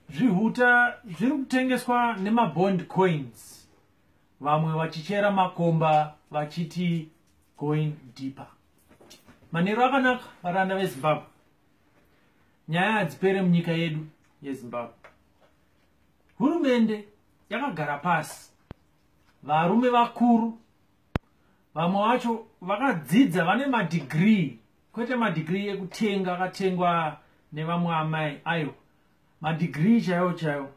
zvihuta zviri kutengeswa nemabond coins vamwe vachichera makomba vachiti going deeper manheru akanaka varanda vezimbabwe nyaya hadzipere munyika yedu yezimbabwe hurumende yakagara pasi varume vakuru vamwe vacho vakadzidza vane madhigrii kwete madegree ekutenga akatengwa nevamwe amai ayo madegree chaiwo chaiwo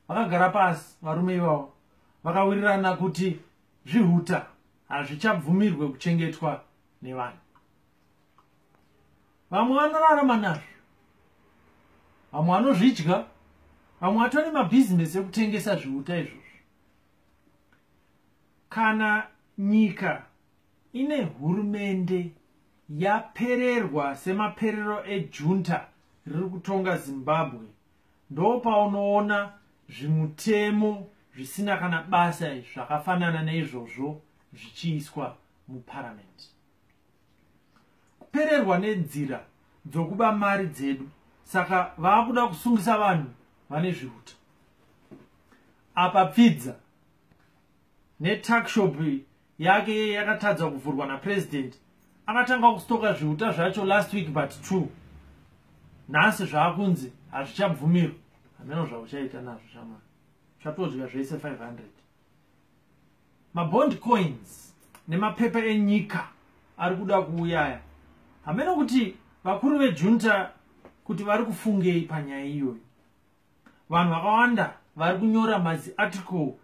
vakagara pasi varume ivavo vakawirirana kuti zvihuta hazvichabvumirwe kuchengetwa nevanhu vamwe vanorarama nazvo vamwe vanozvidya vamwe vatone mabhizinesi ekutengesa zvihuta izvozvo kana nyika ine hurumende yapererwa semaperero ejunta riri kutonga zimbabwe ndopaunoona zvimutemo zvisina kana basa zvakafanana neizvozvo zvichiiswa muparamende kupererwa nenzira dzokuba mari dzedu saka vaakuda kusungisa vanhu vane zvihuta apa pfidza netuckshop yake yeye yakatadza kuvhurwa napresident akatanga kustoka zviuta zvacho last week but two nhasi zvaakunzi hazvichabvumirwa hameno zvauchaita nazvo shamana chatodya zvese 500 mabond coins nemapepa enyika ari kuda kuuyaya hameno kuti vakuru vejunta kuti vari kufungei panyaya iyoyo vanhu vakawanda vari kunyora maziarticle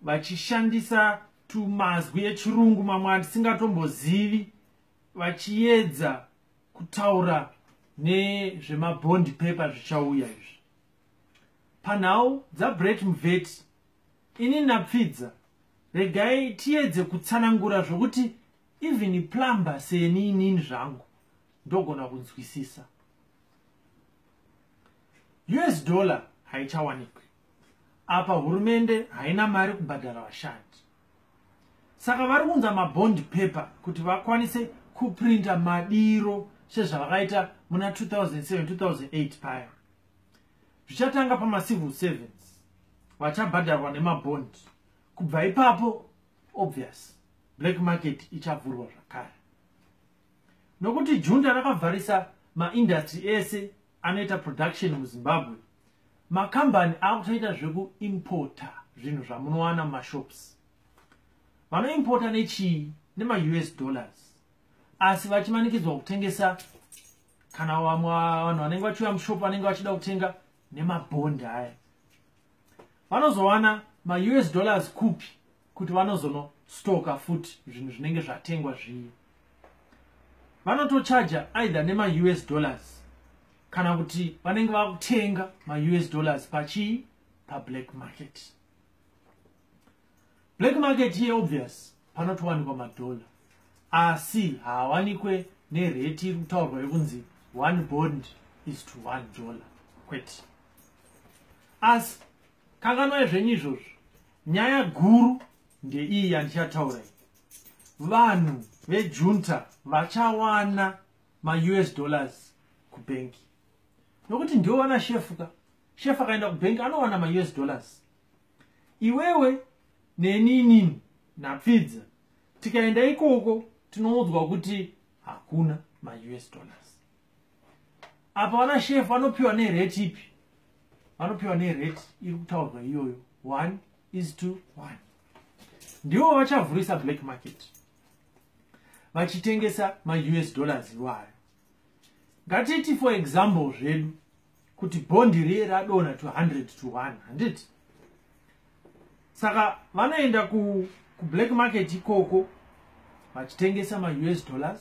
vachishandisa tumazwi echirungu mamwe atisingatombozivi vachiedza kutaura nezvemabond paper zvichauya izvi panhau dzabret mvet ini napfidza regai tiedze kutsanangura zvokuti even plumber seni inini zvangu ndogona kunzwisisa us dollar haichawanikwi apa hurumende haina mari kubhadhara vashandi saka vari kunza mabond paper kuti vakwanise kuprinta madiro sezvavakaita muna 2007-2008 paya zvichatanga pamacivil servants vachabhadharwa nemabond kubva ipapo obvious black market ichavhurwa zvakare nokuti junta rakavharisa maindustry ese anoita production muzimbabwe makambani akutoita zvekuimporta zvinhu zvamunowana mumashops vanoimporta nechii nemaus dollars asi vachimanikidzwa kutengesa kana vamwe vanhu vanenge vachiuya mushop vanenge vachida kutenga nemabhondi aya vanozowana maus dollars kupi kuti vanozono stoka futi zvinhu zvinenge zvatengwa zviye vanotochaja either nemaus dollars kana kuti vanenge vakutenga maus dollars pachii pablack market black market iye obvious panotowanikwa madhola asi haawanikwe nereti iri kutaurwa yekunzi one bond is to one dollar kwete asi kanganwai zvenyu izvozvo Nyaya guru ndeiyi yandichataura iyi. Vanhu vejunta vachawana maUS dollars kubhengi. Nokuti ndiwo vana shefu ka. Shefu akaenda kubhengi anowana maUS dollars. Iwewe neni inini napfidza tikaenda ikoko tinoudzwa kuti hakuna maUS dollars. apa vana shefu vanopiwa nerate ipi vanopiwa nerate iri kutaurwa iyoyo one is to one ndivo vachavhurisa black market vachitengesa maus dollars iwayo ngatiti for example zvedu kuti bondi riye radona 200 to 1 handiti saka vanoenda kublack market ikoko vachitengesa maus dollars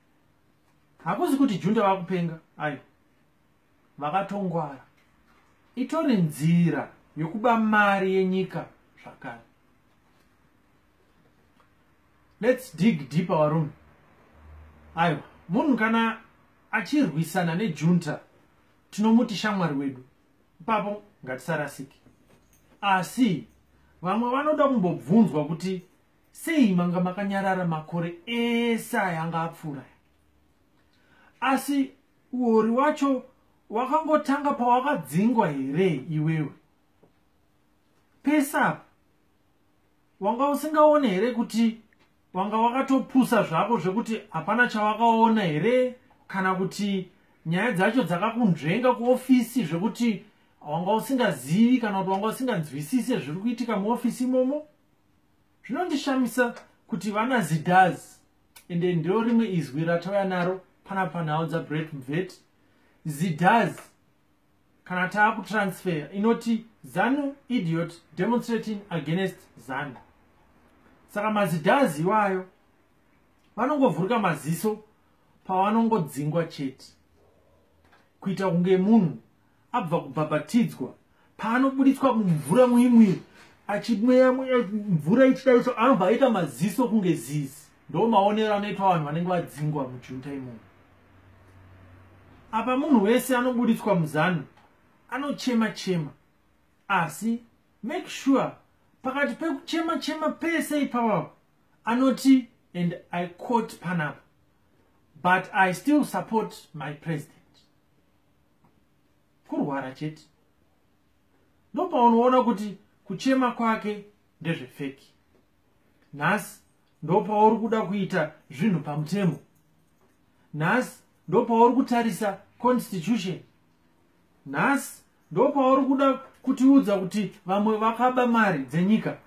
hakuzi kuti junta vakupenga ayo vakatongwara itori nzira yokuba mari yenyika zvakare lets dig deep our room aiwa munhu kana achirwisana nejunta tinomuti shamwari wedu ipapo ngatisarasiki asi vamwe vanoda kumbobvunzwa kuti Sei manga makanyarara makore ese aya anga apfuura aya? Asi uori wacho wakangotanga pawakadzingwa here iwewe? Pese apa wanga usingaone here kuti wanga wakatopusa zvako zvekuti hapana chawakaona here kana kuti nyaya dzacho dzakakunzvenga kuofisi zvekuti wanga usingazivi kana kuti wanga usinganzwisise zviri kuitika muofisi imomo zvinondishamisa kuti vana zidaz ende ndiro rimwe izwi ratauya naro pana panhau dzabret mvet zidaz kana taa kutransfer inoti zanu idiot demonstrating against zanu saka mazidaz iwayo vanongovhurika maziso pavanongodzingwa chete kuita kunge munhu abva kubhabhatidzwa paanobuditswa mumvura muimwiri achimweya mvura ichidaito anobva aita maziso kunge zizi ndo maonero anoitwa vanhu vanenge vadzingwa mujuta imomo apa munhu wese anobuditswa muzanu anochema chema asi make sure pakati pekuchema chema pese ipapapo anoti and i quote panapa but i still support my president kurwara chete ndopaunoona kuti kuchema kwake ndezvefeki nhasi ndopauri kuda kuita zvinhu pamutemo nhasi ndopauri kutarisa constitution nhasi ndopauri kuda kutiudza kuti vamwe vakaba mari dzenyika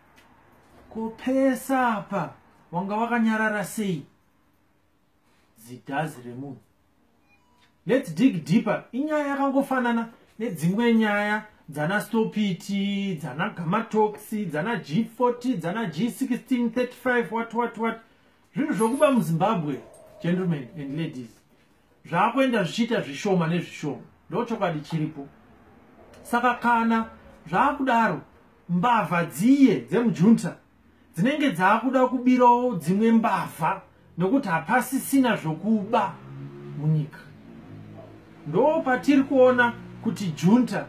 ko pesa apa wanga wakanyarara sei zidhazi remunhu lets dig deeper inyaya yakangofanana nedzimwe nyaya dzana stopiti dzana gamatoxi dzana g40 dzana g16 35 wat wat wat zvinhu zvokuba muzimbabwe gentlemen and ladies zvaakuenda zvichiita zvishoma nezvishoma ndo chokwadi chiripo saka kana zvaakudaro mbavha dziye dzemujunta dzinenge dzaakuda kubirawo dzimwe mbavha nokuti hapasisina zvokuba munyika ndo patiri kuona kuti junta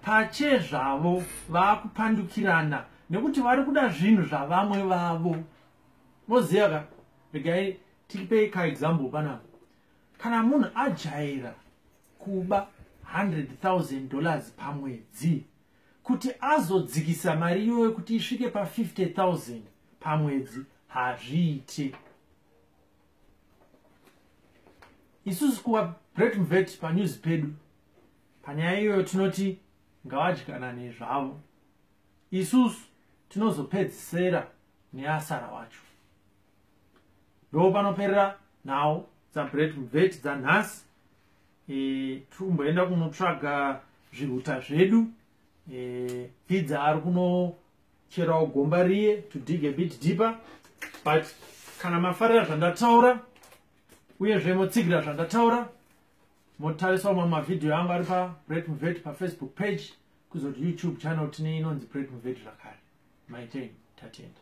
pache zvavo vaakupandukirana nekuti vari kuda zvinhu zvavamwe vavo moziva ka regai tipei kaexample panapa kana munhu ajaira kuba 100,000 dollars pamwedzi kuti azodzikisa mari iyoyo kuti isvike pa 50000 pamwedzi hazviite isusu kuva bretmvet panews pedu panyaya iyoyo tinoti ngavadyanane zvavo isusu tinozopedzisera neasara wacho ndo panoperera nhau dzabretmvet dzanhasi e, tumboenda kunotsvaga zvihuta zvedu e, fidza ari kunocherawo gomba riye to dig a bit deeper but kana mafarira zvandataura uyezve motsigira zvandataura motarisawo mamwe mavhidhiyo angu ari pabret muvet pafacebook page kuzoti youtube channel tine inonzi bret muvet zvakare maitei tatenda